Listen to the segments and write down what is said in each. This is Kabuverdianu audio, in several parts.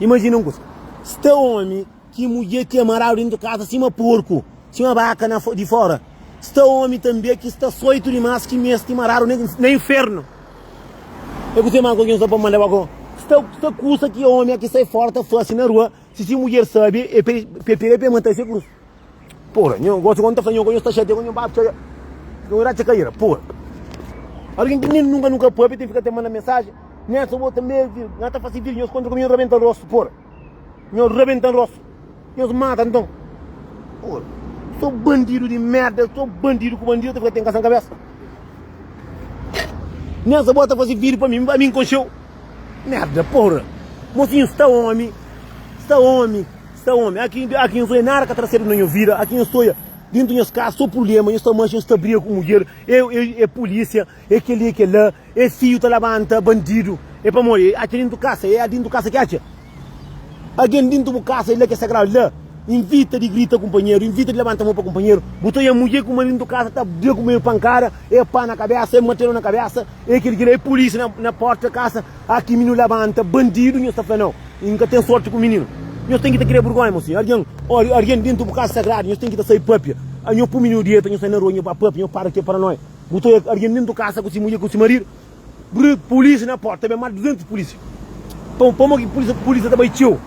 Imajina un kuza. Sta omi ki mudjer ki é maradu dentu kaza sima porku, sima baka na di fora. Sta omi tanbe ki sta soitu dimas ki mesti maradu na infernu. É kuze mal ku algin sta pa manda ba ko. Sta, sta kusa ki omi ki sai fora ta fasi na rua, si si mudjer sabi, e pe, pe pega, pe mata, e se krus. Pura, nho gosi quando ta fla nho que nho sta chateia nho bap txaia nho ira txa caira pura alguém que nen nunca nunca pape tem fica tem manda mensagem nen essa outra também vir nha ta fasi vir nhos contra comigo rebenta rosto pura nho rebenta rosto nhos mata então pura sou bandido de merda sou bandido com bandido tem fica tem cação cabeça nen essa outra fasi vir para mim para mim concheu merda pura mocinho está homem está homem Sta omi, aki aki nhos oi nada ka trasedu na nho vida, aki nhos ta oia dintu nhos cas so purlema, nhos ta manxa, nhos ta briga ku mudjer, e e polisia, e keli e kela, e fiu ta labanta bandidu, e pamodi e atxa dintu casa, e adintu casa ki atxa algen dintu bu casa e la ki e sagradu la invita di grita kumpanheru, invita di labanta mon pa kumpanheru, bu ta oia mudjer ku maridu dintu casa ta briga ku maridu pankada, e pa na kabesa, e martelo na kabesa, e keli kela, e polisia na na porta casa. Ah ki mininu labanta bandidu nhos ta fla nau i nka ten sorti ku mininu nhos ten ki ta kria burgonha mo si argen ori argen dentu bu kasa sagradu nhos ten ki ta sai papia ah nhos pu mininu dieta nhos sai na rua nhos ba papia nhos para ke paranoia bu ta oia argen dentu kasa ku si mudjer ku si maridu brrr polisia na porta ben mas di 200 polisia pa pamo ki polisia polisia ta bai txeu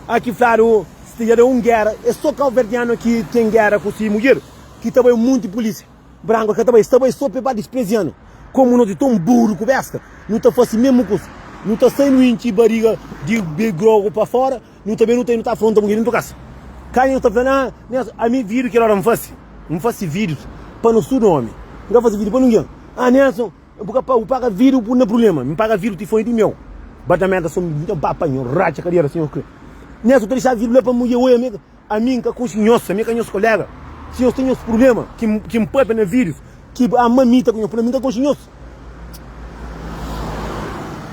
ah ki fladu sta dja da un guera e so kauverdianu ki ten guera ku si mudjer ki ta bai un monti polisia. Branco ka ta bai, sta bai so pe ba disprezianu. Komu nos e ton buru ku besta, nu ta fasi mesmu kusa. Nu ta sai, nu intxi bariga di be grogu pa fora, nu ta be, nu ta i, nu ta afronta mudjer dentu kasa. Kani nos ta fla, na, na, ami vidius kel ora N fasi, N fasi vidius pa nos tudu omi, N ka fasi vidius pa ningin. Ah, Nelson, bu ka paga, bu paga vidius bu na prulema. Mi paga vidius ti foi di meu. Ba ta merda so, mi ta ba pa nho, ratxa kadera, senhor Kle. Nelson ta dixaba vidius la pa mudjer, oi ami, Ami N ka kunsi nhos, ami ka nhos koléga. Si nhos ta nhos prubléma ki N pâpia na vídius, ki ama mi ta ku nhos prubléma, ami N ka konxe nhos.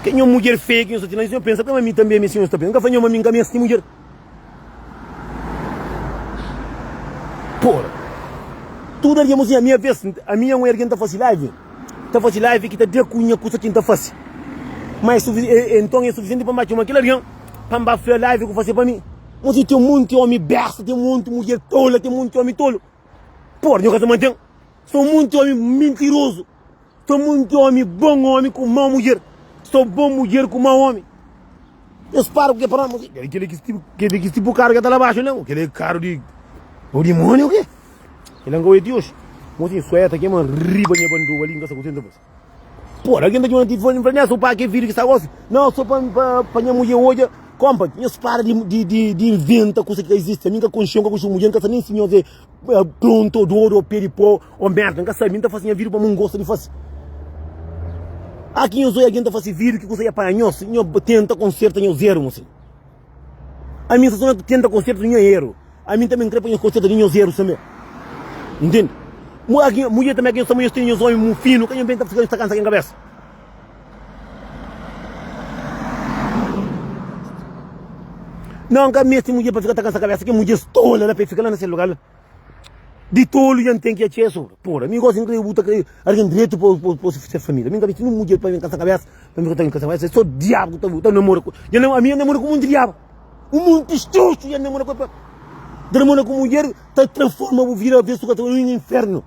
Kel nhos mudjer feia ki nhos ta tinha la, si nhos pensa prema, ami tanbe ami é si nhos ta pensa. N ka fla nhos ma ami N ka meste mudjer. Pora, tudu algen mostra ami aves ami é un algen ta fase live, ta fase live ki ta da ku nha kusa ki N ta fase. Ma é sufi, nton é sufisienti pa N ba txoma kel algen pa N ba fla live ku fase pa mi. Mo ti ten monti omi besta, ten monti mudjer tola, ten monti omi tolo. Por nho ka ta mantém. Só monti omi mentiroso. Só monti omi bom omi ku mau mudjer. Só bom mudjer ku mau omi. Deus para ku ke para nós. Kele kele kis tipo, kele kis tipo karo ke ta la baixo leu. Kele karo di o dimônio ke. Kele nka oe ti hoje. Mo ti sueta kema riba nha banduba ali, nka sa kutenta bas. Pode algen ta djuda-m ti fla-l, N fla nes, opa, kel vídiu ki sta gósi? Nau, sô pa nha mudjer odja. Konpa, nhos para di inventa kuza ki ka izisti. Ami N ka konxe-l, N ka konxe bu mudjer, N ka sabe nen si nhos é prontu, ô dodu, ô pé di pau, ô mérda. N ka sabe. Mi N ta faze nha vídiu pamodi N gosta di faze. Aki nhos odja algen ta faze vídiu, ki kuza ki é panha nhos? Nhos tenta konserta nhos érus, nhos. Ami só ta tenta konserta nha eru. Ami tanbe N kre pa nhos konserta di nhos erus tanbe. N tende. Mudjer tanbe ki nhos ta amor nhos tene nhos omi mu finu ka nhos ben ta fika nhos ta kansa ken kabesa. Nau N ka meste mudjer pa fika ta kansa kabesa ken mudjers tola la pa e fika la na se lugar la. Di tolu nha n'ten ki atxe es ora Pora mi gosi n'kre bu ta kre argen dretu pa bu pa ses família Mi n'ka meste nun mudjer pa ben kasa kabes pa mi kotame kasa es so diabu ku ta bu ta namora ku nha na ami nha namora ku monti diabu un monti xoxu nha namora ku pa Dramona ku mudjer ta transforma bu vida avesu kasa un infernu.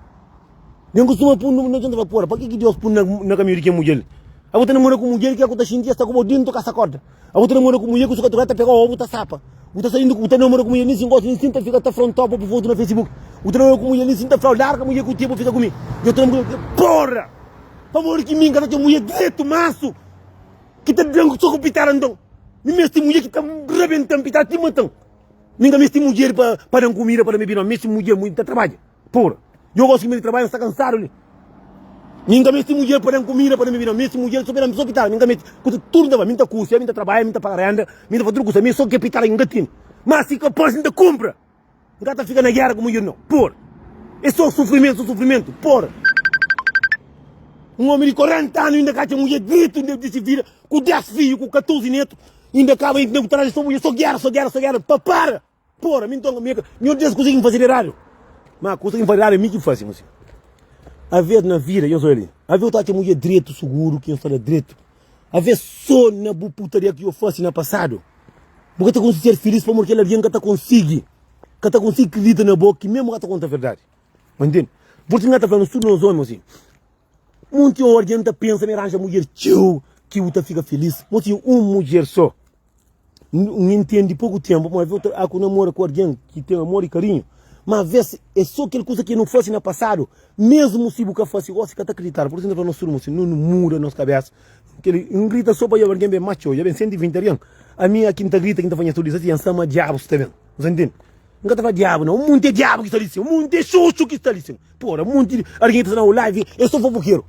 Nen kustuma pun nu na djunta vapor. Pa ki ki Deus pun na kaminhu di ken mudjer? Abu ta namora ku mudjer ki aku ta xinti es ta ku bo dintu ka sa korda. Abu ta namora ku mudjer ku su katuka ta pega obu ta sapa. Bu ta saindo bu ta namora ku mudjer nin sin gosta nin sin ta fika ta fronta bo bu foto na Facebook. Bu ta namora ku mudjer nin sin ta flau larga mudjer ku ti bu fika ku mi. Deus ta namora ku porra. Pamodi ki mi n ka ta txeu mudjer dretu mansu ki ta dan so ku pitada nton mi mesti mudjer ki ta rabentan pitada ti matan. Mi n ka mesti mudjer pa dan kumida pa da mi binomi. Mi mesti mudjer ta trabadja. Pura. Djobe osi ki mi di trabadja, mi sta kansadu li. Mi nka mesti mudjer pa da-m kumida, pa da-m bebida. Mi mesti mudjer so pa da-m so pitara. Mi nka mesti kusa tudu nta bai. Mi nta kusia, mi nta trabadja, mi nta paga renda, mi nta fazi tudu kusa. Mi so ke pitara ki nka tene. Ma si ka pos, nta kunpra. Nka ta fika na gera ku mudjer no. Pura. E so sufrimentu, so sufrimentu. Pura. Un omi di 40 anu inda ka atxa mudjer diritu, inda disi vida ku 10 fiju, ku 14 netu. Inda kaba inda ku taraja so mudjer. So gera, so gera, so gera. Pa para! Pora, mi nton mi mi odja es kusa ki N fazeba eradu. Má kusa ki N fazeba eradu é mi ki faze, mostra. Avês na vida, nhos odja li, avês bu ta atxa ma bu é dretu, suguru ki nhos fala dretu. Avês sô na bu putaria ki bu fase na pasadu, bu ka ta konsigi ser filís pamodi kel algen ka ta konsigi ka ta konsigi kridita na bo ki mê bu ka ta konta verdadi. Bo ntende? Pur isu N ta fla-nu, tudu nos ómi mostra, monti ora dja N ta pensa ma N aranja mudjer txeu ki bu ta fika filís, mostra, un mudjer sô. N intendi poku tenpu ma avê otu a ku namora ku algen ki ten amor i karinhu, ma avês é so kel kuza ki nu fase na pasadu. Mesmu si bu ka fase gosi, i ka ta kridita-l. Pur isu, N ta fla nos irmons si nu na muda nos kabésa. Kel N grita so pa djobe algen ben más txeu. Dja ben senti vinti algen. Ami é ki N ta grita, ki N ta fla nhas tudu, N sta ma Diabu sta ben. Nu sta intendi? N ka ta fla Diabu, nau. Un monti di Diabu ki sta li sin. Un monti di xoxu ki sta li sin. Pô, ra, un monti di algen ki ta sta na un live é so fofokeru.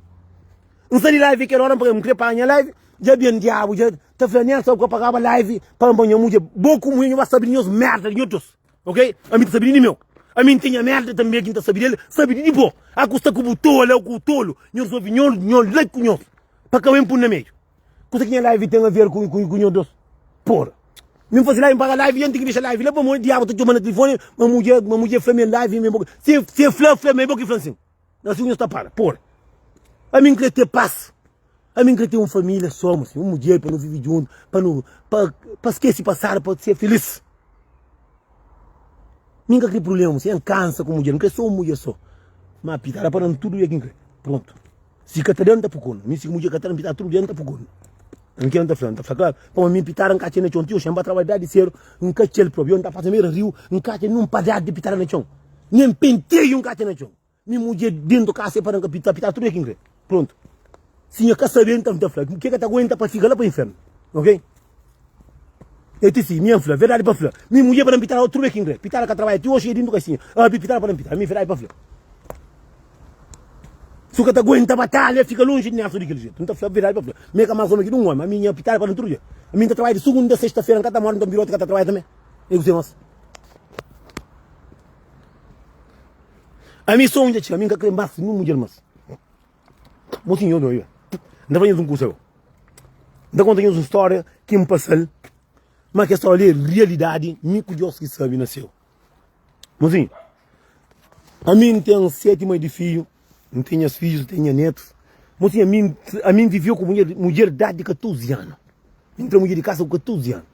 N sta li live kel óra, N fla, N krê paga nha live. Dja ben Diabu dja. ta fla nen sa ku ka pagaba live pa nba nha mudjer bo ku munhe nhu ba sabi di nhos merda di nho dos ok ami ta sabi di meu ami nten nha merda tanbe ki nta sabi del sabi di di bo a ku sta ku bu tola o ku tolu nhu resolvi nho nho lei ku nhos pa ka wen pun na meiu kusa ki nha live ten aver ku ku nho dos por mi nfasi live npaga live yen ten ki dexa live la pamodi diabu ta txoma na telefone ma mudjer ma mudjer fla mi live mi bo si si e fla fla ma e bo ki fla nsin. Nos fidjus ta fala, Por, ami N krê ten pas, ami N krê ten un família soma si, un mudjer pa nu vive djuntu, pa nu, pa, pa skese pasadu, pa ser filís. Mi N ka krê prubléma si, N kansa ku mudjer, N krê so un mudjer so. Má Pita, da pa nan tudu dia ki N krê. Prontu. Si ka ta da-m, N ta fukonu. Mi si ki mudjer ka ta da-m, Pita, tudu dia N ta fukonu. N kre N ta fla, N ta fla klaru pa ma mi pitara N ka atxa na txon Txeu xe N ba trabadja dia di sedu N ka atxa-l propi Yo N ta pasa bera riu N ka atxa nen un padjada di pitara na txon Nen un penteiu N ka atxa na txon Mi mudje dentu kasa e pa na ka pitadu Pitadu tudu ke ki N kre Prontu Si nha ka sabe N ta fla N ke ka ta aguenta pa fika la pa infernu Ok E ti si mi N fla verdadi pa fla Mi mudje pa na pitadu tudu ke ki N kre Pitadu ka trabadja ti oxi e dentu kasinha Abi pitadu pa na pitadu Mi verdadi pa fla. Su ka ta aguenta batalha fika lonji di Nelson di kel jetu. N ta fla-bu verdadi pa fla, mi é ka más ómi ki di un ómi. Ami, nha pitara para-m tudu dia. Mi, N ta trabadja di sugunda a sesta-fera, N ka ta móre, nton bira ôtu ka ta trabadja tanbe. É ku se nos. Ami sô un dja txiga, ami N ka krê más ninhun mudjer más. Bo txi nho dóriba. N ta fla nhos un kusa gô. N ta konta nhos un stória ki N pasa-l, má kes stória li é rialidadi, mi ku Diós ki sabe na Séu. Mozinhu. A mi N ten seti mai di fidju, N ten nhas fidjus, N ten nha netus. Mo si, ami ami N viveu ku mudjer mudjer di idadi di 14 anu. Mi N tra mudjer di kasa ku 14 anu.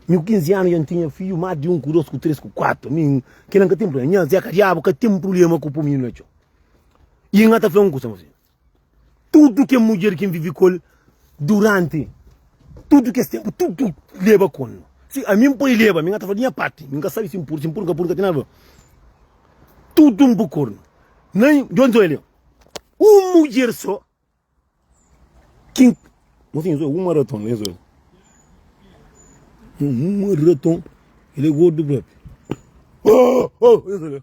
Mi ku 15 anu dja N tinha fidju, más di un, ku dos, ku tres, ku kuatu. Ami kila N ka ten prublema. Nha zeka diabu ka ten prublema ku pui mininu na txon. I N ka ta fla-u un kusa, mo si. Tudu kel mudjer ki N vive ku el duránti tudu kes ténpu, tudu leba ku N. Si ami N poi leba, mi N ka ta fla di nha párti, mi N ka sabe si N pur, si N pur, N ka pur, N ka ten nada pa faze. Tudu N pukor-m. Na N djon sô el é un mudjer sô ki N. Mon sinha, sô uma raton, é sô. Uma raton, el é gordu própi. Ôô! Ôô! É sô.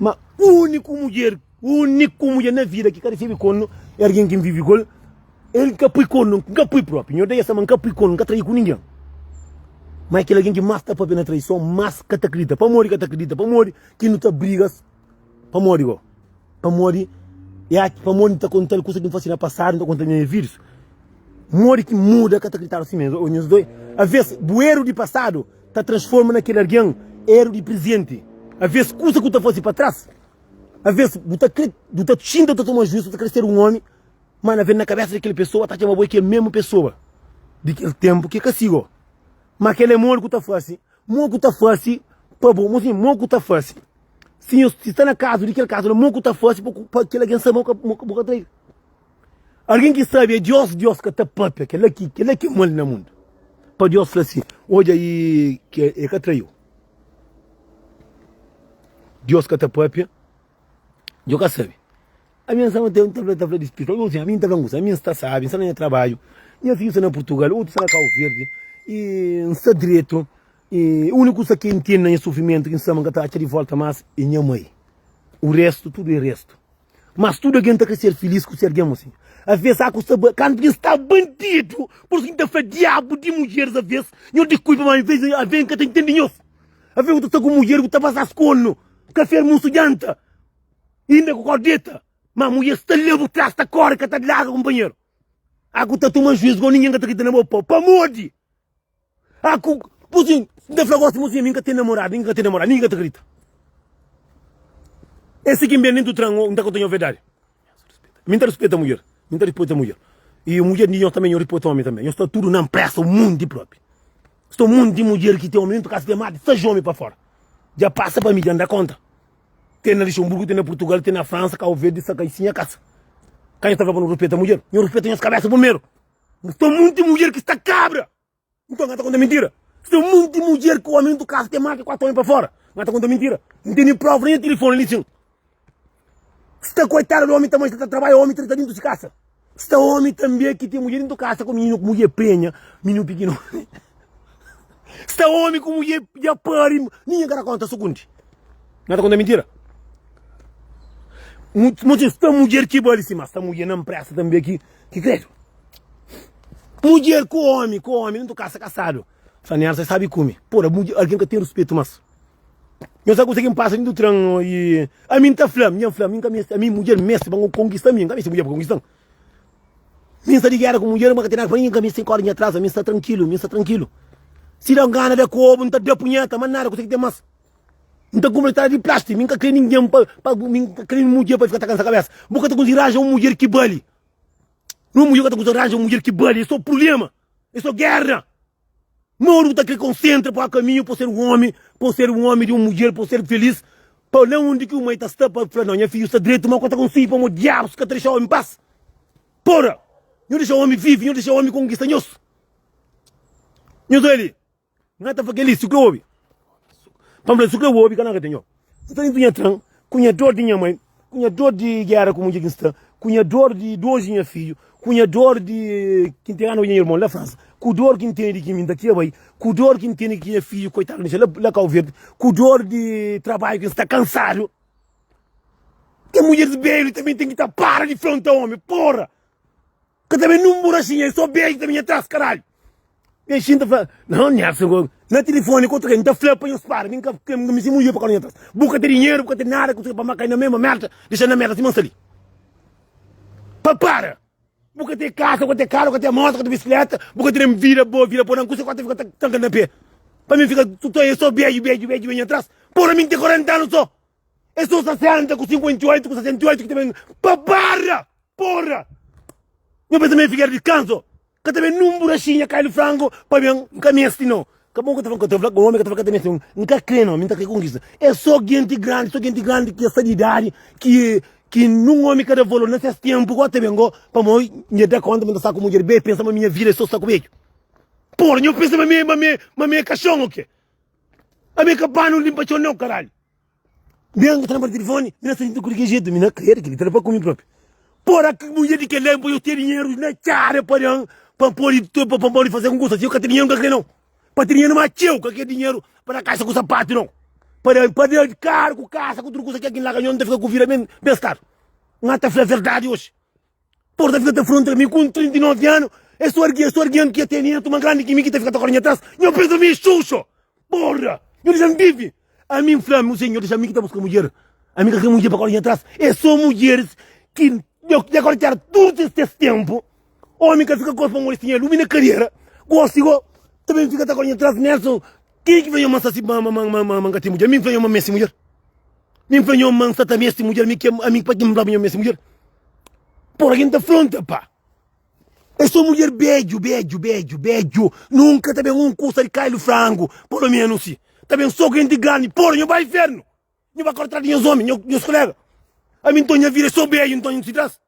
Ma uniku mudjer, uniku mudjer na vida ki ka resebe kornu é algen ki N vive ku el. El ka pui kornu, N ka pui propi. Nhorda Iesa ma N ka pui kornu, N ka trai ku ningen. Ma é kel algen ki mas ta papia na traison, mas ka ta kridita. Pamodi ka ta kridita? Pamodi ki nu ta brigas? Pamodi go? Pamodi é ati, pamodi N ta konta-l kusa ki N fase na pasadu, N ta konta-l nha fidjus. Modi ki muda ka ta kriditaba si mé? Ô nhos doi, aves bu eru di pasadu. Ta transforma na kel algen eru di prezenti. Aves kusa ku ta fase pa tras, aves bu ta kre, bu ta txinta ta toma juisu, ta kre ser un omi, ma na ve na kabesa di kel pesoa ta txema bo e kel mesmu pesoa di kel tempu ke ka sigo. Ma kel e modi ku ta fase, mo ku ta fase pa bo, mo sin, mo ku ta fase. Si nhos, si sta na kazu di kel kazu la, mo ku ta fase pa ku, pa kel algen sa ma bu ka, bu ka trai. Algen ki sabe é Diós, Diós ka ta pâpia kel-la ki kel-la ki é mal na mundu. Pa Diós fla si, Odja i ki el ka traiu. Diós ka ta pâpia, djo ka sabe. Ami N staba ta fla di spritu, algen fla si, ami N ta fla un kuza, ami N sta sábi, N sta na nha trabadju, nha fidju sta na Purtugal, otu sta na Kabu Verdi i N sta dretu. E úniku kusa ki N ten na nha sufrimentu ki N sta ma N ka ta atxa di vólta más é nha mai. O réstu, tudu é réstu. Mas tudu algen ta krê ser filís ku se algen mosi. Avês aku sta ba, kantu N sta bandidu, pur isu ki N ta fla diabu di mudjeris avês, nhos di kulpa ma avês algen ka ta intende nhos. Avês bu ta sta ku mudjer bu ta basas konu, kafé almusu djanta i inda ku kau deta. Má mudjer sta la bu tras ta kóre ka ta larga kunpanheru. Aku ta toma juízu, gau ningen ka ta krita na bo pau, pamodi. Ah ku Putin N ta fla gosi mosinha mi N ka ten namoradu ningi ka ten namoradu ningi ka ta krita E si ki N ben di Dutran o N ta konta nho verdadi Mi N ta rispeta mudjer Mi N ta rispeta mudjer i mudjer di nho tanbe nho rispeta omi tanbe nho sta tudu na npresa un mundi di propi sta un mundi di mudjer ki ten omi dentu kas ki amadu sa jomi pa fora dja pasa pa mi dja N da konta ten na Luxemburgo ten na Purtugal ten na Fransa Cabo Verde sa ka i si nha kasa ka nho ta fla pa no rispeta mudjer nho rispeta nhos kabesa primeru. Mas ten monti mudjer ki sta kabra. Nton n'ka ta konta mintira. Si ten monti mudjer ki omi ntu kasa ten más ki 4 omi pa fora, n'ka ta konta mintira. N ten nin prova, nin tilifoni li txin. Si ta koitadu di omi ta meste ta tarbaia omi treta dintu si kasa. Si ta omi tanbe ki ten mudjer dintu kasa ku mininu ku mudjer prenha, mininu piki no. Si ta omi ku mudjer dja pari, ninha ka ta konta sukundi. N'ka ta konta mintira. Mu txin si ta mudjer ki bali si, mas si ta mudjer na mpresta tanbe ki. Ki kredu. Mudjer ku omi ku omi ntu kasa kasadu. Fla nel sai sabi kume. Pura mudjer algen ka ten ruspetu mas. Nhos sa kusa ki npasa dintu tren i ami nta fla mi dja nfla mi nka meste ami mudjer meste ba konkista mi nka meste mudjer pa konkista-m. Mi nsta di gera ku mudjer mi ka ten nada ki fla ningi nka meste nka odi nha tras ami nsta trankilu mi nsta trankilu. Si da ngana da kobu nta da punheta ma nada kusa ki ten mas. N ta kumra trás di plástiku, mi N ka krê ningen pa, pa, mi N ka krê nen mudjer pa fika ta kansa kabésa. Bu ka ta konsigu ranja un mudjer ki bali. Nen un mudjer ka ta konsigu ranja un mudjer ki bali. É sô prubléma, é sô géra. Má odu bu ta krê konsentra pa kaminhu pa bu ser un ómi, pa bu ser un ómi di un mudjer, pa bu ser filís, pa la undi ki bu mai ta sta pa fla, Nau, nha fidju sta dretu, má ku ka ta konsigi pamodi diabus ka ta dexa ómi pas. Pora! Nhos dexa ómi vive, nhos dexa ómi konkista nhos. Nhos oja li. Nhá ta fla kel-li, Su ku é obi, pa N fla-l, Su ku é obi, ka na ka ta nhô. N sta dentu nha tran, ku nha dor di nha mai, ku nha dor di géra ku mudjer ki N sta, ku nha dor di dôs di nha fidju, ku nha dor di ki N ten ránba di nha irmon la Fransa, ku dor ki N tene di ki mi N ta kre bai, ku dor ki N tene di ki nha fidju koitadu na dexa la Kau Verdi, ku dor di trabadju ki N sta kansadu. Kel mudjer di belu tanbê ten ki ta para di fronta omi, pôra! Ka ta ben nin un buraxinha é so beju ta ben nha tras karalhu. Nha xin ta fla nau Nerson ko na telefoni ko tokei nta fla pa nhos para mi nka kre mi sima un yupa ka no nha tras bu ka ten dinheru bu ka ten nada kusa pa ma kai na mema merda dexan na merda sima nsali pa para bu ka ten kasa bu ka ten karu bu ka ten mota bu ka ten bisikleta bu ka ten vida bo vida ponan kusa kota fika tanka na pe pa mi fika tokei é so beju beju beju nha tras pora mi nte korenta anu so Es só 60 ku 58 ku 68 ki ta ben pa barra. Porra! Nho pensa ma é Figuera di Kanso. Ka ta ben nun buraxinha kai di frango pa ben. N ka meste no. Ka bon ka ta fla, ka ta fla, omi ka ta fla ka ta meste. N ka kre no, mi n ta kre konkista. É só genti grandi, só genti grandi ki é sa di idadi ki ki nun omi ka da valor na ses tenpu gó ta ben gó pamo mi é da konta ma mi ta sta ku mudjer be pensa ma minha vida é só sta ku bedju. Porra, nho pensa ma mi é ma mi é ma mi é kaxon o ke? Ami é ka panu linpa txon nau karalhu Mi anga ta na bata telefoni Mi na senti-l ku di ki jetu Mi na kre-l Kel-li ta da pa ku mi propi Pora ki mudjer di kel-la Npa yo ten dinheru Na txada pa da-m Pa N pode Pa N pode faze algun kusa Si yo ka ten dinheru N ka kre nau Pa ten dinheru ma txeu Ka kre dinheru pa da kaxa ku sapatu nau Pa da pa da karu ku kaxa ku tudu kusa Ke kin la ka nho N ta fika ku vida ben ben stadu N ata fla verdadi oji Por ta fika ta frontra mi kun 39 anu es só argia só argia nkia teni na tuma grandi ki mi ki ta fika ta kore nha tras nho pensa mi é xuxo porra nho dexa-m vivi ami n fla-m kuzê nho dexa mi ki ta buska mudjer ami ka kre mudjer pa kore nha tras é só mudjeris ki nho ki ta kore tera tudu es es tenpu omi ka fika gosi pamodi es tinha lumi na kariera gosi go ta ben fika ta kore nha tras Nelson kenha ki fla nho ma n sta si ma ma ma n ka ten mudjer ami n fla nho ma mi é si mudjer. Mi fla nho ma nsa ta mesti mudjer mi kema ami paki nfla nho mesti mudjer por algin ta fronta pa e so mudjer bedju bedju bedju bedju nunka ta ben un kusa di kailu frangu polo menus si ta ben so ku genti grandi por nho ba infernu nho ba kortadu nhos omi nhos kolega ami nton nha vida e so bedju nton nho si tras.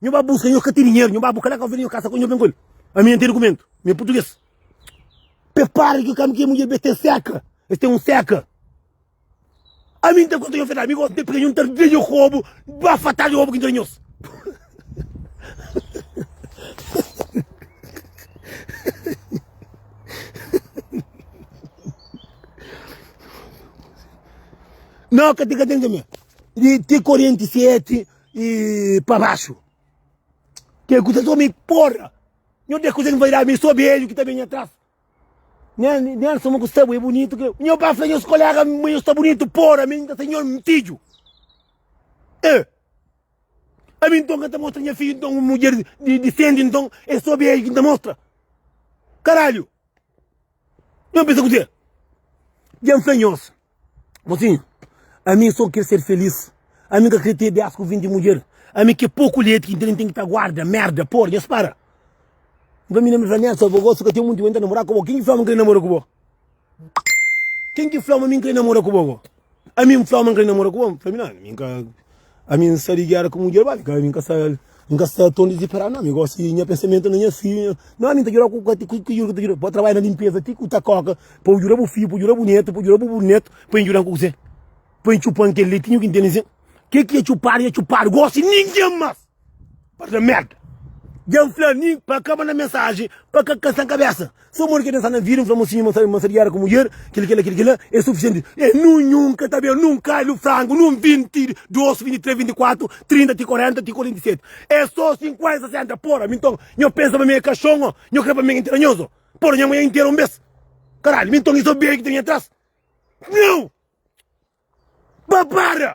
Nho ba busca, nho ka tem dinheiro, nho ba buca lá ka vende nho casa, nho bem com ele. A minha tem documento, minha português. Prepara que o cam que mulher bem tem seca, eles tem um seca. A mim tem conta nho fedar, amigo, tem pequeno, tem bem nho cobo, ba fatal nho cobo que tem nhos. Não, que tem que tem que me. Tem corrente sete. E pa baxu. Ke akusason mi porra. Nho te akusa nva irá mi so beijo ki ta bem nha tras. Nha nha soma ku sta bo e bonitu ke. Nho pa fla nhos kolega ma nho sta bonitu porra mi ta senhor fidjo. E ami nton ka ta mostra nha fidjo nton un mudjer di di sente nton e so beijo ki nta mostra. Caralho. Nhos pensa kuzê? Dja N fla nhos, mosinhu, ami sô kre ser felís, ami ka kre ten bias ku vinti mudjer, ami ke poku leti ki N ten ki ta guarda, merda, por, nhos para. N fla minha mi fla, Nelson, bo gosi ka ten munti bo, N ta namora ku bo, ken ki fla ma N kre namora ku bo? Ken ki fla ma mi N kre namora ku bo? Ami n fla-u ma n ka di namora ku bo? N fla, ami nada, ami ka, ami n sta di gera ku mudjer, ba, ami ka, ami ka sta, ami ka sta ton diziperadu nau, ami gosi nha pensamentu na nha fidju, nha, nau ami n ta djuda-u ku ka, ku ki djuda ku ta djuda-u, pa trabadja na linpeza ti ku ta koka, pa bu djuda bu fidju, pa bu djuda bu netu, pa bu djuda bu burnetu, pa N djuda-m ku kuzê? Pa N txupa-m kel letinhu ki N tene zen? Ke ki N txupadu, nha txupadu, gosi ningen mas! Par da merda. Dja fla mi pa ka manda mensaji, pa ka kasa kabesa. So modi ke pensa na vida, fla mosinhu ma ma sa di gera ku mudjer, kil kila kil kila, e sufisienti. E nu nhun ka ta ben nun kailu frangu, nun 22, 23, 24, 30 ti 40 ti 47. E so 50, 60. Pora, mi nton nho pensa pa mi e kashon o nho kre pa mi e intera nhos o? Pora, nha manha intera un bes. Karalhu, mi nton i so beiu ki ta bin atras? Nau! Ba para!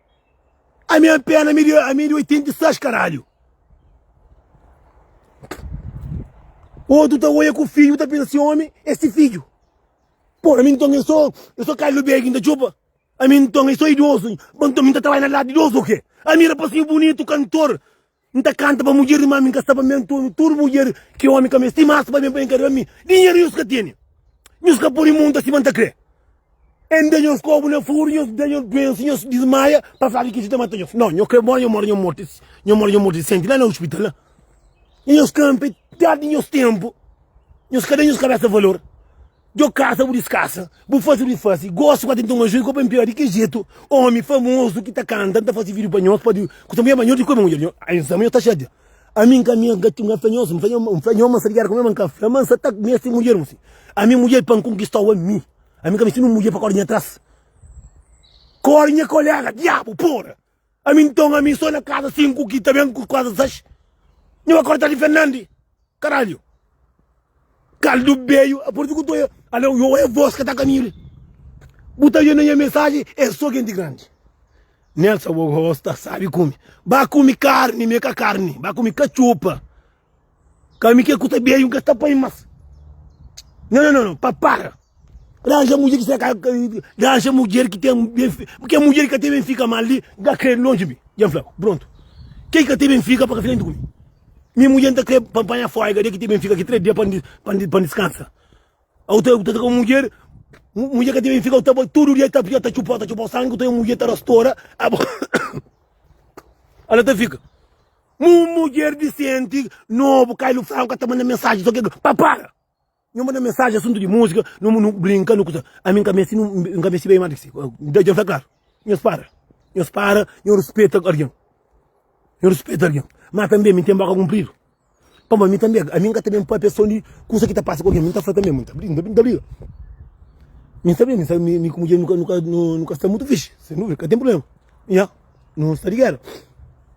Ami an pena ami ami di 86 caralho. Outro tá olha com o filho tá pensa assim homem é esse filho. Pô, a mim então eu sou eu sou Carlos Beg ainda chupa. A mim então eu sou idoso. Então mim tá trabalhando lá de idoso o quê? A mim era para ser bonito cantor. N ta kanta pa mudjer di mame, N ka sta pa mi Antônio Tudu mudjer ki omi ka meste Mas pa ben pa enkada pa mi Dinheru nhos ka tene Nhos ka pode monta sima N ta kre N da nhos kobu na furu Nhos da nhos duensa Nhos dismaia pa fla ki kisi ta mata nhos Nau, nhos kre mora Nhos mora nhos morti Nhos mora nhos morti disenti la na hospital la Nhos kanpe térdi nhos tenpu Nhos ka da nhos kabesa valor. Djo kasa bu diskasa bu fasi bu fasi gosi ku atenton ajuda ku pa npia di ki jetu omi famozu ki ta kanta nta fasi video pa nhos pa di ku samia ma nhos di kome mudjer nhos ai nsa ma nhos ta xadia ami nka mi nka ti nka fla nhos nfla nhos nfla nhos ma nsa ligadu ku mi ma nka fla ma nsa ta mesti mudjer mu si ami mudjer pa nkonkistau ami ami nka mesti nin mudjer pa kori nha tras kori nha kolega diabu pora. Ami nton ami so na kaza 5 ki ta ben ku kaza 6 Nha ba korta di Fernandi Karalhu Kaldu beyu a parti ku to yo Alô yo oia vos ka ta kamilu Bu ta oia na nha mensaji es so genti grandi Nelsa bo gosta sabi kumi Ba kumi karni mi ka karni Ba kumi katxopa Ka mi ke ku ta beju ka ta pai mas no no no pa para ranja mudjer ki sta ranja mudjer ki ten ke mudjer ki ka ten ben fika mal li da kre lonji mi dja fla ku prontu ke ki ka ten ben fika pa ka frenti ku mi mi mudjer nta kre pa panha folga de ki ten ben fika ki tres dia pa pa diskansa au ta ta ku mudjer mudjer ka ten ben fika au ta bai tudu dia ta ta txupau ta txupau sangi au ta mudjer ta rastora abo ala ta fika Un mudjer disenti nobu kai lu franku ka ta manda mensaji so ke ke pa para nhu manda mensaji asuntu di musika nu brinka nu kusa ami nka meste nu nka meste bai ma di ki si da dja fla klaru nhos para nhos para nhu rispeta algin nhu rispeta algin ma tanbe mi ten boka kunpridu pamodi ami tanbe ami nka ta ben pa atenson di kusa ki ta pasa ku algin mi nta fla tanbe mi nta briga mi nta briga mi sabe mi sabe mi ku mudjer mi ka mi ka nu nu ka sta mutu fisi sen duvida ka ten prubléma nha nu sta di géra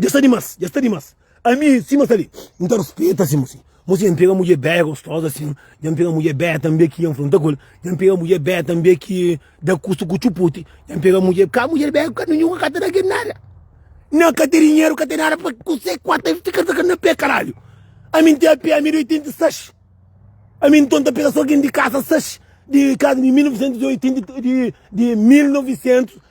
Dja sta dimas, dja sta dimas Ami sima sta li, N ta rispita si mosi Mosi dja N pega mudjer bea e gostoza asin Dja N pega mudjer bea tanbe ki dja N fronta ku el Dja N pega mudjer bea tanbe ki da kusu ku txuputi Dja N pega mudjer, ka mudjer bea ka ten ninhun ka ta da kel nada Nan ka ten dinheru ka ten nada pa kusé ku ata N fika sakadu na pé karalhu Ami N ten apé ami di 86 Ami inton N ta pega so algen di kasa 6 di kasa di 1986 di 1900.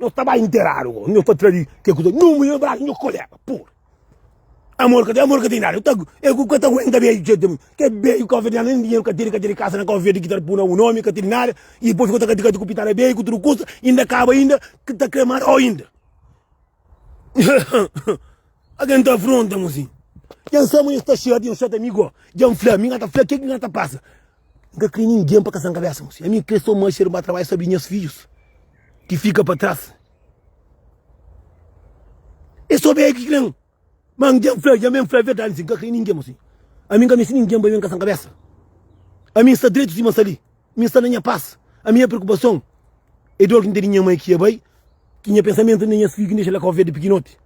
Nhos ta bai interadu gó. Nhos ta tra di ke kuza. Nhu mui na brasu nhu kolega. Pur. Amor ka ten, amor ka ten idadi. Ta, e ku ka ta aguenta beju txeu tenpu. Ke beju Cabo Verdiano nen dinheru ka tene, ka tene kasa na Cabo Verde ki ta pu na bu nomi, ka tene nada. I dipos fika ta kati kati ku pitara beju, ku tudu kusa. Inda kaba inda ki ta kre marau inda. Algen ta afronta-m asin. Dja N sabe ma nhos ta xata, nhos xata mi gó. Dja N fla, mi ka ta fla ke ki ka ta pasa. N ka krê ningen pa kasa-m kabésa, mon. Ami N krê sô Marcia riba trabadju, sabe di nhas fidjus ki fika pa tras. É sô bem ki krê-m. Má N dja N fla-l, dja mê N fla-l verdadi, sin, N ka krê ningen, mon. Ami N ka meste ningen ba ben kasa-m kabésa. Ami N sta dretu sima sali, mi N sta na nha pas. Ami nha preokupason é dor ki N ten di nha mai ki dja bai, ki nha pensamentu na nhas fidju ki N dexa la Kau Verdi pikinoti.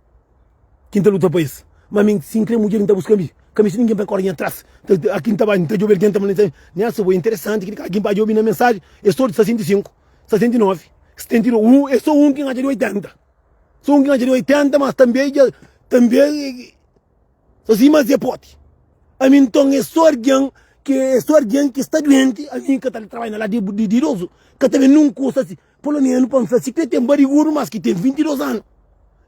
Ki N ta luta pa es. Má mi, si N krê mudjer, N ta buska-m bi. Ka meste ningen pa kóre nha atrás. Aki N ta bai, N ta djobe algen ta fla-m, Nha asa bo, é interesanti kel-li. Algen pa djobe na mensajen, es todu sta 65, 69, 72. Un, é sô un ki N atxa di 80. Sô un ki N atxa di 80, mas tanbê dja, tanbê sô si, mas dja é poti. Ami, nton, é sô algen ki, é sô algen ki sta duenti. Ami ka ta trabalha na ladu di idozu. Ka ta ben nen un kusa si. Polonianu pa-m fla si ki é ten barigudu mas ki ten 22 anu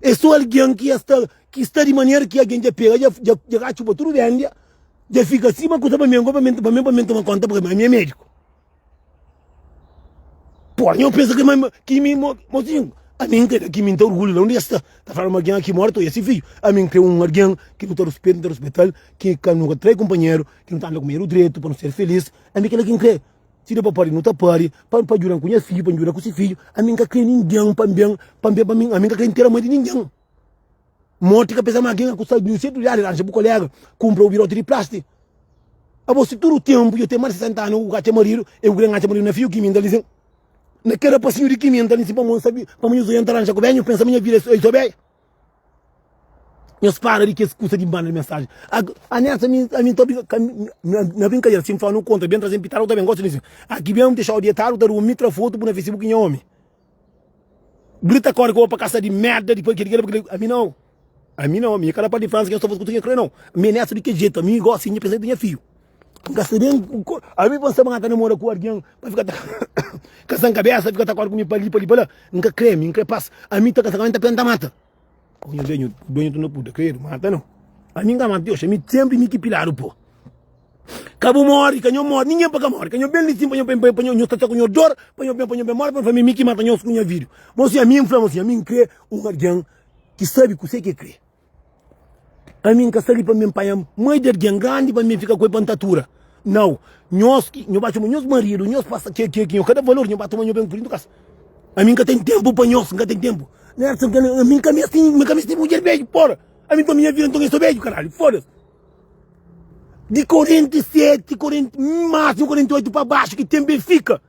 é so algen ki es ta ki sta di manera ki algen dja pega dja dja dja ka txuba tudu ben dja dja fika si ma kusa pa mi ango pa mi pa mi pa mi toma konta paka mi ami é médiku pua nho pensa ki ma kimi mo mosinhu ami n krê kimi n ta orgulhu la undi es sta ta fla ma algen aki mora ta oi esse fidju ami n krê un algen ki nu ta ruspetu nu ta ruspetal ki ka nu ka trai kunpanheru ki nu ta anda ku medu dretu pa nu ser feliz ami kila ki n krê. Si da pa pâdi, nu ta pâdi, pa N djuda ku nha fidju, pa N djuda ku se fidju. Ami N ka krê ningen pa N ben pa N ben pa mi, ami N ka krê ntera mai di ningen. Morti ka peza ma algen a kusta duzentus real, ranja bu koléga kunpra bu biróti di plásti. Abo, si tudu ténpu dja ten más di sesenta anu ku ka atxa maridu, e ku krê N atxa maridu na fiju ki mi? N ta linsin na kada pasinhu di ki mi, N ta linsin pamodi N sabe pamodi nhos dôs dja N ta ranja ku benha, nhos pensa ma nha vida é sô beja. Nhos para di kes kusa di banda di mensaji. Anexa mi ami n ta obi na brinkadera si n fla nu kontra ben traze-m pitadu ku ta ben gosi di aki ben dexau dietadu ta durmi tra fotu bu na facebook nha omi grita kore ki bo pa kasa di merda di parkê di kila pa kila ami nau ami nau ami kada parti di fransa ki nhos ta faze kusa ki nhos krê nau mi anexa di kel jetu ami gosi di pensa ki nhos ta nha fiu N ka sabe Almi pa N staba ngata namora ku algin pa fika ta kasan kabesa fika ta korda ku mi pa li pa li pa la N ka kre mi N kre pas Almi ta kasa ka mi N ta tenta mata Nhos ve nhu dueñu tudu na puta kredu mata no Almi N ka mata ti oxi Almi sempri mi ki piladu po Ka bu mori ka nho mori ningen pa ka mori ka nho ben li sin pa nho pa nho nho sta ku nho dor pa nho ben pa nho ben mori pa nho famia mi ki mata nhos ku nha vidu Bo si Almi N fla bo si Almi N kre un algin ki sabe kuse ke kre. Pa mi, N ka sta li pa mi panha mai di algen grandi pa mi fika ku el pa N ta atura. Nau. Nhos ki nho ba txoma nhos maridu, nhos pasa ke ki nho ka da valor, nho ba toma nho ben kuridu kasa. Ami N ka ten tenpu pa nhos, N ka ten tenpu. Nerson, Ami N ka meste, N ka meste mudjer beju, pora! Ami pa mi nha vida nton é so beju, karalhu, foda-s! Di 47, 40, másimu 48 pa baxu ki tenpu el fika.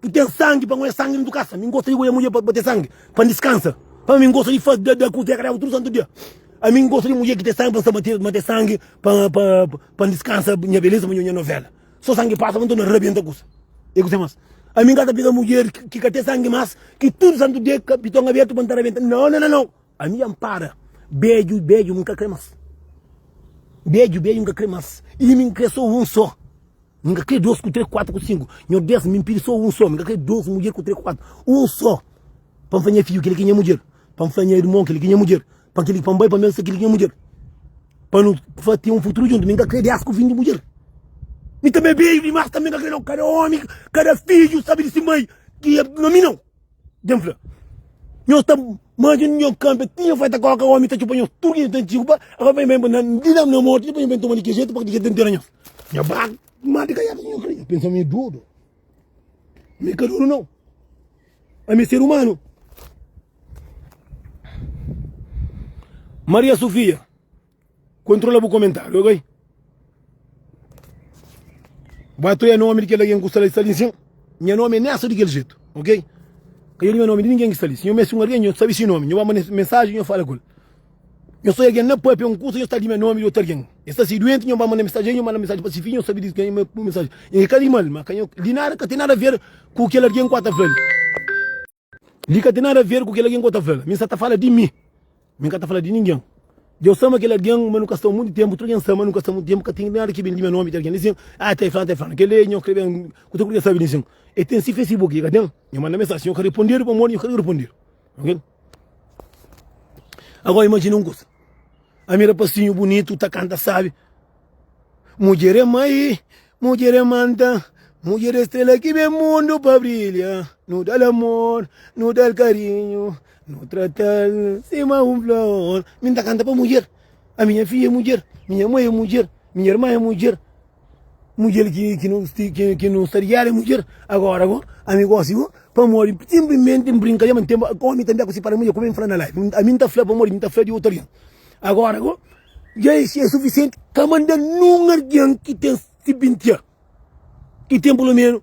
N ten sangi pa ngoia sangi ndu kasa. Mi n gosta di goia mudjer pa pa ten sangi, pa n diskansa. Pa mi, n gosta di fas dada ku zeka daba tudu santu dia. Ami n gosta di mudjer ki ten sangi pa n sta mate mate sangi pa pa pa n diskansa nha beleza pa nha novela. So sangi pasa pa n torna rabienta kusa. E kuzê mas? Ami n ka ta pega mudjer ki ki ka ten sangi mas, ki tudu santu dia ka piton abertu pa n ta rabienta. Nau nau nau! Ami dja n para. Bedju bedju mi n ka kre mas. Bedju bedju mi n ka kre mas. Imi n kre so un so. Mi ka kre dos ku tre ku kuatu ku sinku Nhor des mi pidi so un so Mi ka kre dos mudjer ku tre ku kuatu Un so Pa N fla nha fidju kel ki nha mudjer Pa N fla nha irmon kel ki nha mudjer Pa kel pa N bai pa mel se kel ki nha mudjer Pa nu fla ten un futuru djuntu Mi ka kre des ku vin di mudjer Mi tanbe beju dimas tanbe N ka kre no kada omi kada fidju sabi di si mai ki e na mi nau Dja N fla Nhos ta manja nhos kanpe ti nhos fai ta koka omi ta txupa nhos tudu ki nhos ten txupa Agoa pa nhos bai na di na mortu Dipus nhos bai toma di ki jetu pa di ki jetu ta ntera nhos. Nha bag mati kaiada nhu kri pensa mi dudu mi ka dudu nau ami ser umanu maria sofia kontrola bu komentario ok bu atreia nomi di kel algen ku sta la i sta li sin nha nomi nesa di kel jetu ok ka io di nha nomi di ningen ki sta li si nhu meste un algen nhu sabi si nomi nhu ba manda mensaji nhu fala ku el Nhos oi algen na pâpia un kusa, nhos ta di ma é nómi di otu algen. Nhos sta ser duenti, nhos ba manda mensaji dja nhos manda mensaji pa se fidju, nhos sabe di kenha bu mensaji. Nhos ka ka di mal, ma ka nhos di nada ka ten nada ver ku kel algen ku a ta fla-l. Li ka ten nada ver ku kel algen ku a ta fla-l, mi n sa ta fala di mi, mi n ka ta fala di ningen. Dja u sama kel algen, ma nu ka staba munti tenpu. Tudu algen sama, nu ka staba munti tenpu, ka ten nada ki ben di ma é nómi di algen. Li sin, a ta é fulanu, a ta é fulanu. Kel li nhos krê ben kusa, purkê sabe di sin, el ten si fesibuki, i ka ten? Nhos manda mensaji, nhos ka ripondedu pamodi nhos ka debe ripondedu. Ok. Agora imagina um coisa Ami rapazinho bonito tá canta sabe Mulher é mãe, mulher é manta Mulher é estrela que vem mundo pra brilha No dá-l amor, no dá-l carinho No trata-l cima um flor Ami tá canta pa mulher A minha filha é mulher Minha mãe é mulher Minha irmã é mulher Mudjer ki nu sta di éra é mudjer agora gó ami gósi gó pamodi sinplimenti n brinka ma ten ómi ta meste sipara mudjer kome n fla na live ami n ta fla pamodi n ta fla di otu algen agora gó dja é sufisienti ka manda nen un algen ki ten sibintian ki ten pulomenu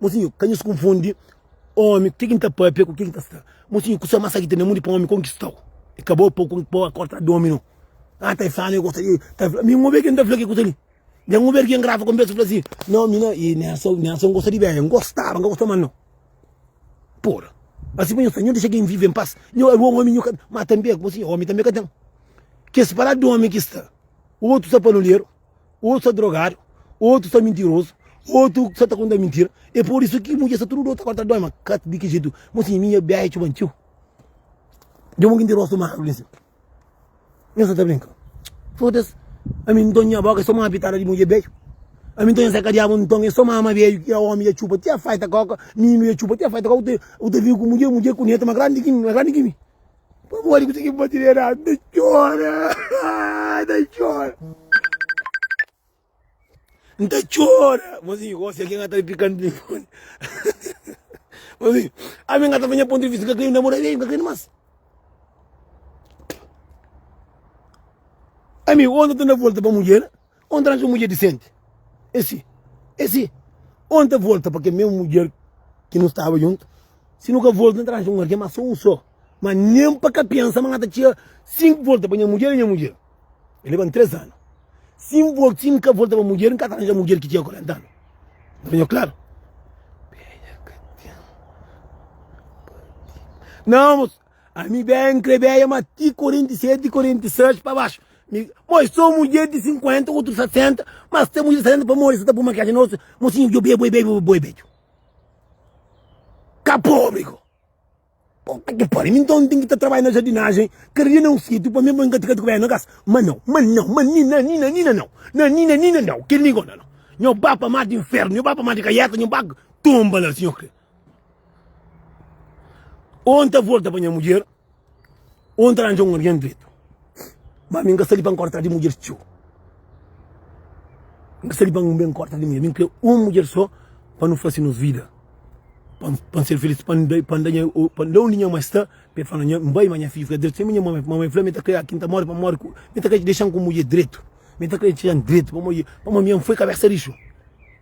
Mosinhu, ka nhos konfundi omi ku ke ki N ta papia ku ke ki N ta sta. Mosinhu, kusa mas sakita na mundu é pa un omi konkistau. E ka bo pau pa o korta domi no. Aa ta e fla ma e gosta di ta fla. Mi N obi ke N ta fla ke kusa li. Den N obi ariel grava konversa fla si, no mi na i Nelson Nelson gosta di Bea. N gostaba, N ka gosta mas no. Pura. Asi pa nhos sta. Nhos dexa gen vive en pas. Nhos a rua omi nhu ka ten. Ma tanbe, mosinhu, omi tanbe ka ten. Kes paladu di omi ki sta. Otu sa palolier. Otu sa drogadu, otu sa mintirozu, otu sa ta konta mintira. E por isu ki mudjer sa tudu dotu agora ta dói, ma ka di ki jetu. Mo si mi nha biaha é txeu ba txeu. Dja mo ki ndi rostu magru li si. Nhos sa ta brinka? Foda-s. Ami nton nha boka é so mama pitada di mudjer bedju. Ami nton nha seka diabu nton é so mama bedju ki omi dja txupa ti a faita koka, mimi dja txupa ti a faita koka. Bu ta, bu ta vive ku mudjer, mudjer ku netu ma grandi di ki mi, ma grandi di ki mi. Pamodi ku tigi bati de radu ta txora ta txora N ta txora Mozinhu gosi algen ata pika N telefoni Mozinhu ami N ata fazia pontu di vista N ka krê mi namora bem N ka krê-l más Ami ondi ta na volta pa mudjer Onde ranja un mudjer disenti esi esi Onde ta volta pa kel mesmu mudjer ki nu staba juntu Si nu ka volta nu ta ranja un algen ma so un so Ma nen pa ka pensa ma na ta txia Si N volta pa nha mudjer nha mudjer E leba-m tres anu Si N volta si N ka volta pa mudjer N ka ta ranja mudjer ki txia kuarenta anu N ta fla-u klaru Nau mos. Ami ben n kre beja ma ti 47 46 pa baxu mi mo i so mudjer di 50 otu 60 ma si ta mudjer di 60 pamodi sa ta pu makiaji na rostu mo sinhu djo boi boi boi beju ka pobri ko puta ki pariu mi nton ten ki ta trabalha na jardinajen kada dia na un sitiu pa mi bo nka tikati ku beja na kas ma nau ma nau ma ni na ni na ni na nau na ni na ni na nau kel ni ko na nau nho ba pa mar di infernu nho ba pa mar di kaieta nho ba tonba la si nho kre. Ou N ta volta pa nha mudjer Ou N ta ranja um alguém dretu Ma ami N ka sta li pa N kore atrás di mudjer txeu N ka sta li pa N ben kore atrás di mudjer Ami N kre um mudjer só pa nu fase nos vida Pa N pa N ser feliz Pa N da pa N da nha pa N da undi nha mãe sta Pa el fla nha N bai ma nha fidju fika dretu Sima nha mãe mãe fla mi ta kre aki N ta more pa N more ku mi ta kre dexan ku mudjer dretu mi ta kre dexan dretu pamodi pamodi ami N foi kabesa rixu.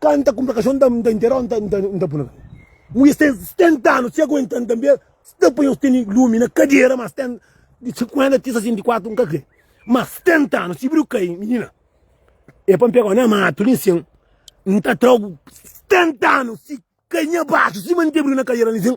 Ka N ta kunpra kaxon N ta intera-u N ta puna Mulher ten 70 anu si aguenta-m tanbe Si ta panha-u stende lumi na kadera Mas ten di 50 ti 64 N ka kre ma 70 anu si bri-u kai Minina e pa N pega-u na matu li nsin N ta tra-u 70 anu si kai nha baxu Sima N ta bri-u na kadera li nsin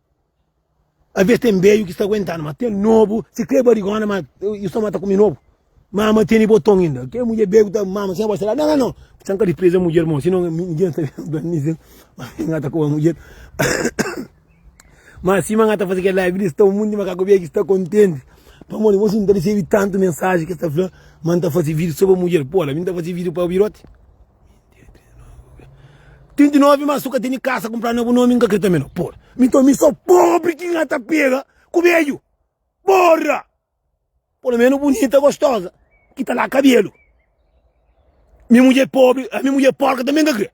Avês ten beiu ki sta aguentanu ma ten nobu si kre barigona ma i sta mata kume nobu mama tene boton inda kre mudjer beiu ki ta mama si abo sta la na na no san ka dispreza mudjer mon si no nigin ta ben mi zen ma mi nga ta koba mudjer ma sima nga ta fase kel live li sta un munti makaku beiu ki sta kontenti pamodi bo si nta risibi tantu mensaji ki sta fla ma nta fase video so pa mudjer pô la mi nta fase video pa biroti. 39 mas su ka teni kasa kunpra na bu nomi n ka kre tanbe no por nton mi so pobri ki nha ta pega ku bedju porra polo menos bunita gostosa ki ta la kabelu mi mudje pobri mi mudje porka tanbe n ka kre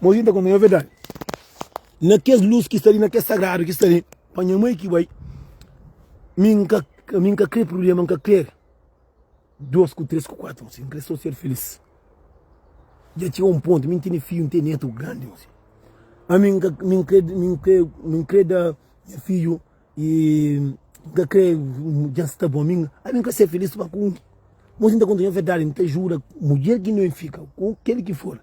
mozinho ta konta nha verdadi Na kes lus ki sta li, na kes sagradu ki sta li Pa nha mai ki bai Mi n ka mi n ka kre prubléma N ka kre dôs ku três ku kuatu N kre sô ser filís Dja txiga un pontu mi n tene fidju N ten nétu grandi Ami n ka mi n kre mi n kre mi n kre da nha fidju N ka kre dja n sta bon Ami n ka ser filís Má si n ta konta nha verdadi N ta juda mudjer ki N ben fika Ku kel ki for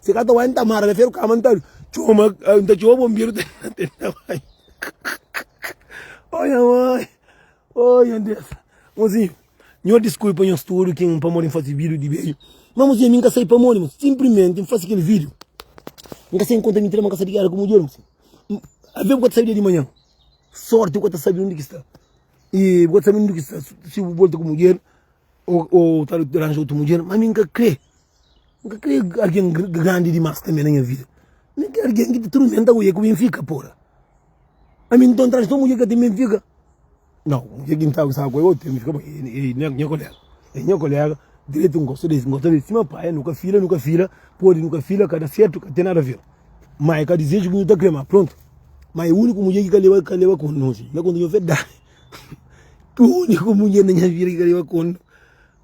Se ka ta bai nta mara na feru kama nta txoma nta txoma bonberu ta tenta bai oh nha mãe oh nha Deus mozinho nhor desculpa nhos tudo que um pamodi faz vídeo de vídeo mas mozinho mim ka sai pamodi mas simplesmente faz aquele vídeo mim ka sai encontra mim trema ka sai diário como diário a ver o que sai dia de manhã sorte o que sai onde que está e o que sai onde que está se volta como diário ou ou tal durante outro dia mas mim ka crê N ka krê algen grandi dimás tanbê na nha vida. N krê algen ki ta turmenta ku el, ku Benfica, pora. Ami n ta un transtor mudjer ki ka ten Benfica? Nau, mudjer ki n ta gostaba ku el otu ténpu, el é nha koléga. El é nha koléga direitu, n gosta di el, n gosta di el sima pai. Nu ka fila, nu ka fila, pode nu ka fila, ka da sertu, ka ten nada aver. Má é ka dizeju ki nu ta krê má, prontu. Má é úniku mudjer ki ka leba, ka leba kontnu, nha konta nha verdadi. Úniku mudjer na nha vida ki ka leba kontnu.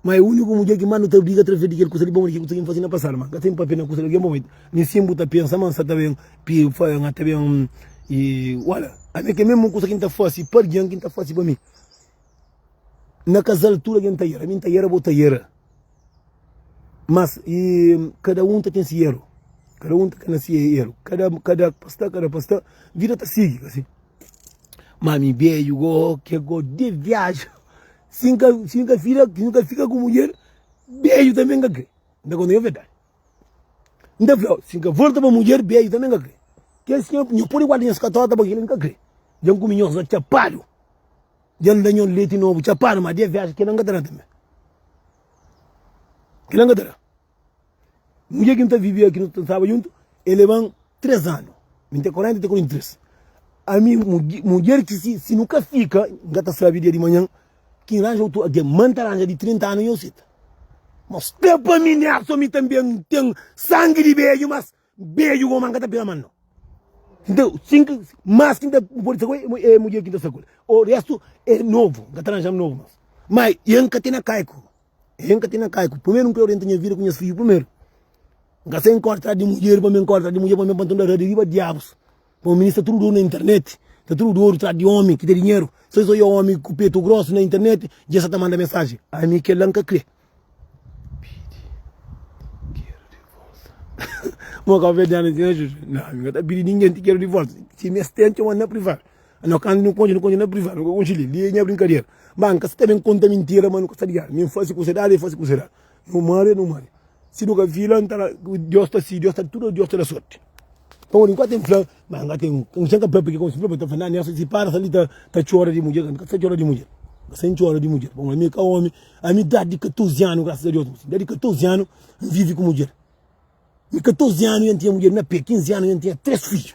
Ma é úniku mudjer ki más nu ta briga através di kel kusa di ba. Modi ki bu ta ben faze na pasadu? Ma N ka ten pâpia na kusa di algen bom. N insin bu ta pensa ma N sa ta ben pâpia. N ta ben i ola. Ami kel mésmu kusa ki N ta fase pa algen ki N ta fase pa mi. Na kazal tudu algen ta era. Mi N ta era, bo ta era. Mas i kada un ta ten se eru. Kada un ta na se eru. Kada pasta, kada pasta, vida ta sigi. Má ami bédju, gosi, gosi di viaja. Si n ka si n ka fika si n ka fika ku mudjer beju tanbe n ka kre n ta konta-m verdadi n ta fla-u si n ka volta pa mudjer beju tanbe n ka kre kes nha nha pode guarda nhas katota pa kila n ka kre dja n kume nhos la txapadu dja n da nhos leti nobu txapadu ma di avesa kila n ka ta da tanbe kila n ka ta da. Mudjer ki N ta vive ki nu ta staba djuntu, el leba-m três anu, mi ten korenta, el ten korenta i três. Ami, mudjer ki si nu ka fika, N ka ta sabe dia di manhan ki N ranja otu algen. Má N ta ranja di trinta anu i N seta. Má sta pa mi, Nelson, mi tanbê N ten sangi di bedju, mas. N beju oman ka ta pega man no. Nta sin ki mas ki n ta pode sa ku el e mudjer ki n ta sa ku el. O restu e novu, n ka ta ranjaba novu mas. Ma e n ka tene kaiku, e n ka tene kaiku. Primeru n krê orienta nha vida ku nhas fidju primeru. N ka sai n korda atrás di mudjer, pamê n korda atrás di mudjer, pamê n panta un darradu riba diabus. Pamo mi sta tudu oru na internet sta tudu oru tras di omi ki ten dinheru so es oia omi ku petu grosu na internet dja sa ta manda mensaji ami kel la nka kre mo kabodianu ti na juju na ami nka ta pidi ningen ti keru di volta si mi es ten txomanu na privadu na kantu nu konxe nu konxe na privadu nu ka konxe li li nha brinkadera ba nka sta ben konta mintira ma nu ka sta liadu mi nfasi ku sodadi el fasi ku sodadi. Nu mare, nu mare. Si nu ka fila, N ta la, Deus ta si, Deus ta, tudo Deus ta da sorti. Pamodi nkuantu N fla, ma N ka ten, N sen ka fla piki, konsi N fla pa ta fla, na nessa si para sa li ta, ta txora di mudjer, N ka sa txora di mudjer, N ka sa N txora di mudjer, pamodi ami ka omi, ami dadi di 14 anu, graças a Deus, mi si dadi di 14 anu N vivi ku mudjer, mi 14 anu ja N tinha mudjer na pé, 15 anu ja N tinha 3 fidju.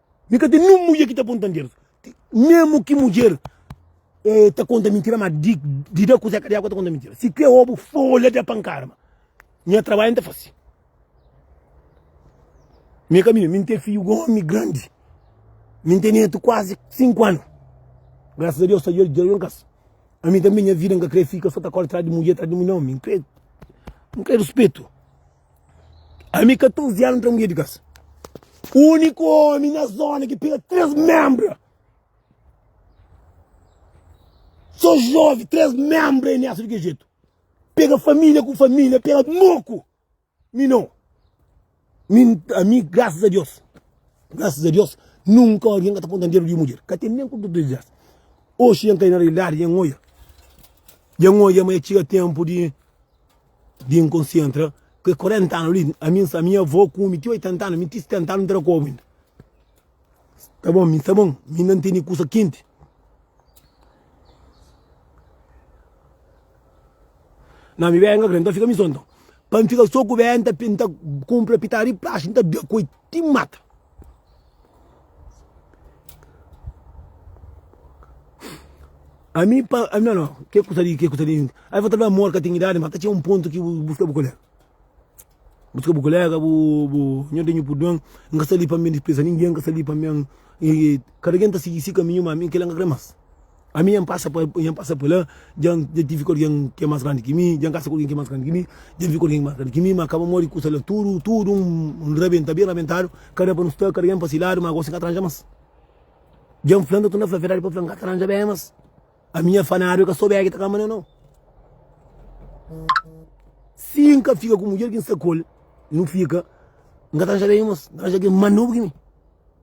Mi ka ten nin mudjer ki ta konta njer. Memu ki mudjer eh, ta konta mintira, ma di, di da kuzeka di agu ta konta mintira. Si ku e obu folha da pankada, ma nha trabalhu N ta fase. Mi e kaminha, mi N ten fiju gomi grandi, mi N ten netu kuazi sinku anu. Grasas a Deus ta djoja un kasa. Ami tambi nha vida N ka kre fika so ta kore tras di mudjer, tras di mudjer, nau. Mi N kre, N kre ruspetu. Ami 14 anu tra mudjer di kas. Uniku omi na zona ki pega 3 membra. So jove 3 membra e nessa di ke jeito. Pega família ku família, pega moku. Mi não. Mi, a mi, graças a Deus. Graças a Deus, nunca alguém está contando dinheiro de mulher. Cá tem nem com tudo isso. Hoje, em cair na realidade, em olha. Em olha, mas chega tempo de Di N konsentra ku e 40 anu li, ami N sta mi avô ku mi ti 80 anu, mi ti 70 anu N ta da kobu inda. Ta bon, mi sta bon, mi inda N tene kusa kenti. Na mi bebe N ka kre, N ta fika mi so nton. Pa N fika so ku bebe N ta N ta kunpra pitadu di plastiku N ta da ku el ti mata. Ami pa ami não, não. Que custa de que custa de. Aí vou trabalhar amor, catinguidade, mas tinha um ponto que busca o colega. Busca o colega, bu bu, não tenho por dono, nunca sali para mim despesa ninguém, nunca sali para mim e cada quem tá seguir esse caminho, mas mim que lá não crê mais. Ami nha N pasa pa nha N pasa pa la dja N dja tive ku algen ki é más grandi ki mi dja N kasa ku algen ki é más grandi ki mi dja N vive ku algen ki é más grandi ki mi má kaba modi kusa la tudu tudu N N rabenta ben rabentadu ka da pa nu sta kada un pa si ladu má gosi N ka ta ranja más dja N fla-m ta torna fla verdadi pa fla-m ka ta ranja ben más ami nha fanadu é ka sto bege ta kama na no si N ka fika ku mudjer ki N sta ku el nu fika N ka ta ranja ben más N ta ranja algen más nobu ki mi.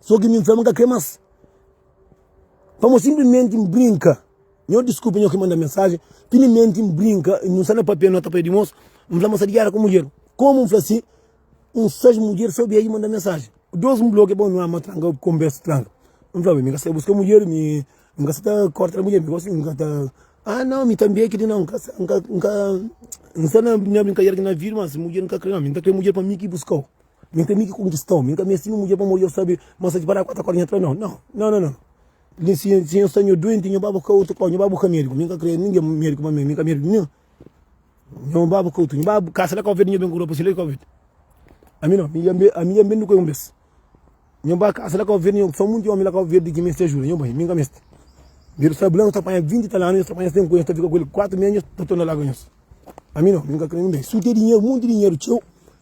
So ki mi nfla ma nka kre mas. Pamo simplimenti nbrinka. Nho diskupa nho ki manda mensaji, pilimenti nbrinka i nsa na papia nota pa e di mosu, nfla ma sa di gera ku mudjer. Komu nfla si? Un sais mudjer sa obi ai manda mensaji. Dos nblokia bo nua ma tranka konbersa tranka. Nfla bo mi nka sa ta buska mudjer, mi nka sa ta korta mudjer, mi gosi mi nka ta. Ah nau mi tanbi e kidi nau nka sa nka nka nsa na brinkader ki na vidu mas mudjer nka kre nau mi nta kre mudjer pa mi ki buskau. Min ta mi ki konkistau, min ka meste mi mudjer pamodi el sabe ma sa diparadu ku otu kór. Nha tra, Nau, nau, nau, nau, nau. Li si si N sta nho duenti, nho baba ka otu kór, nho baba bu ka médiku. Min ka kre ninge médiku pa mi, min ka médiku ninhun. Nho baba ka otu, nho baba kasa la ka ovedu, nho ben ku ropa si la ka ovedu. Ami nau, mi dja be, ami dja ben di ku el un bes. Nho ba kasa la ka ovedu, nho so monti ómi la ka ovedu ki meste ajuda. Nho bai, min ka meste. Dedu sta blanku, sta panha vinti i tal anu, nho sta panha si ten ku el, nho sta fika ku el kuatu mês, nho ta torna la ka nhos. Ami nau, min ka kre ninbe. Si bu ten dinheru, monti dinheru txeu.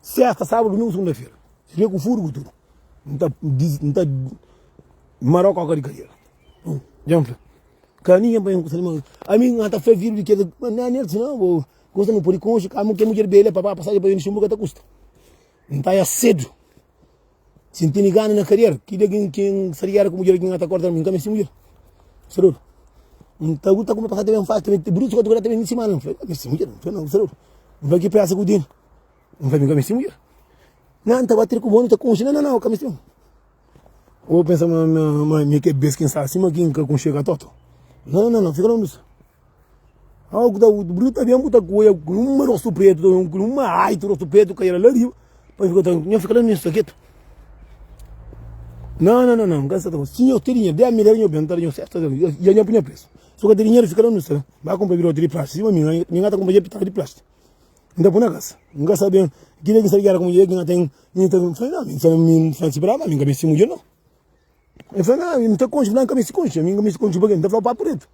Sesta, sábadu, dumingu, segunda-fera. Fia ku furgu tudu. N ta dis, n ta marau kóka di kadera. Hum, dja N fla. Ka ami dja N panha un kusa di malu. Ami N ta fla fidju di kes. Nha nel dise, Nau, bo gosta mi pode konxe kamu ke mudjer bela pa ba pasajen pa ben di xinbu ka ta kusta. N ta ya sedu. Si N tene gana na kariera, ki dia ki N sta di gera ku mudjer ki N ta korta-l? Mi N ka meste mudjer. Meste dodu. N ta luta ku me pasa ta ben fasi ta ben ta brutu ta ben si mal. N fla, N ka meste mudjer. N fla, Nau, meste dodu. N fla ki presa ku tene. N fla, Mi N ka meste mudjer. Nan, N ta batri ku bo, N ta kunxe. Nan, nan, nan, N ka meste bo. Bo pensa ma mi ki é bes ki N sta si ma ki N ka kunxe-l ka totu? Nan, nan, nan, nan, fika lonji di mi. Au ku ta bu bru ta ben bu ta kuia ku uma rostu pretu ta ben ku uma aitu rostu pretu ka ela la riba pa mi fika ta nha fika la na nha saketu nan nan nan nka seta ku si nho tedi nha bia mi dera nho bia ntara nho seta ya nha punha presu su ka tedi dinheru fika la nu seta ba kunpra birote di plastik sima mi nha mi nga ta kunpra ja pitaka di plastik nta pui na kasa nka sa ben kila ki sa di gera ku minha mudjer ki nga ten mi ta fla na mi fla mi fla si bra ma mi nka misti mudjer no el fla na mi mi ta konxe mi fla nka misti konxe mi nka misti konxe pa ke mi ta fla papu retu.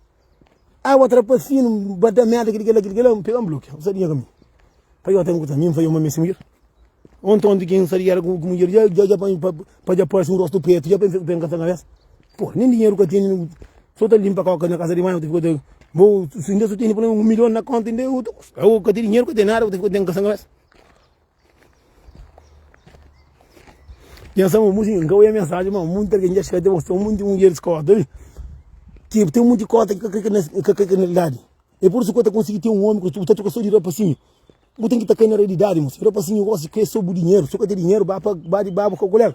Água trapa finu, n ba da merda, kilikelá, kilikelá, n pega, n blokia. N sabe nha kaminhu. Pa Jota N kuta mi, N fai oma mi si mudjer. Onti, onti ki N sadia éra ku mudjer dja, dja, dja panha, pa dja parse un rostu pretu, dja pa N ben kasa kabésa. Pô, nen dinheru ka tene, n so ta linpa kóka na kasa di mai, ota fika ta, bo, si inda so tene pulómens un milhon na kónta inda é otu kusa. Ka ten dinheru, ka ten nada, ota fika ta ben kasa kabésa. Nhos ama munti kin ka oia mensaji ma munti algen dja xega te bos ten munti mudjer diskorda wi ki ten munti kota ki ka kre kel na realidadi e pur isu ki bu ta konsigi ten un omi ku bu ta troka so di rapasinhu bu ten ki ta kai na realidadi moço rapasinhu gosi kre so bu dinheru so ka ten dinheru ba pa ba di baba ku kolega.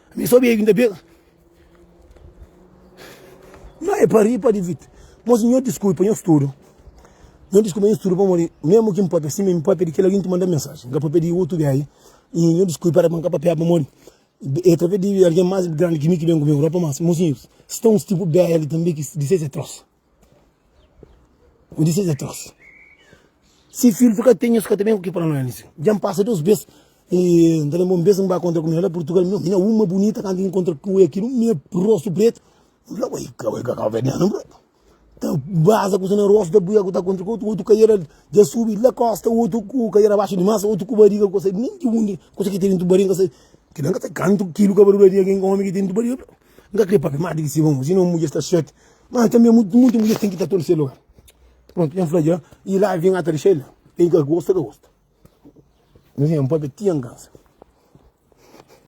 Mi so bebi nta bega Nho é pa ri pa divirti Mos nho diskui pa nho studu Nho diskui pa nho studu pamodi Memu ki npapia sima mi papia di kel algin ki manda mensaji Nka papia di otu biaji Y nho diskui para pa nka papia pamodi É traves di algin mas grandi ki mi ki ben ku mi Europa Mas mos nho sta uns tipu biaji li tanbe ki di ses é tros. N dise es atrás. Si fidju fika ten nhos ka ta ben ku ki pa no anisi. Dja N pasa dos bes y N ta lenbra un bes N ba kontra ku mina la Purtugal mi mina uma bunita kantu N kontra ku el kilo mina rostu pretu N fla oi ka oi ka kabuverdianu bro ta baza ku sina rostu ta buia ku ta kontra ku otu otu kaiera dja subi la kosta otu ku kaiera baxu dimas otu ku bariga ku ta sai nin di undi kusa ki ten dentu bariga N ka sai kila N ka sai kantu kilo kabarula di algin omi ki ten dentu bariga bro. N ka krê pâpia más di ki Simon, si non mudjer sta séti. Má tanbê munti mudjer ten ki ta torse lugar. Prontu, N fla dja, i la avia N ata dexa el la. N ka gosta, ka gosta. N fla, N pâpia ti N kansa.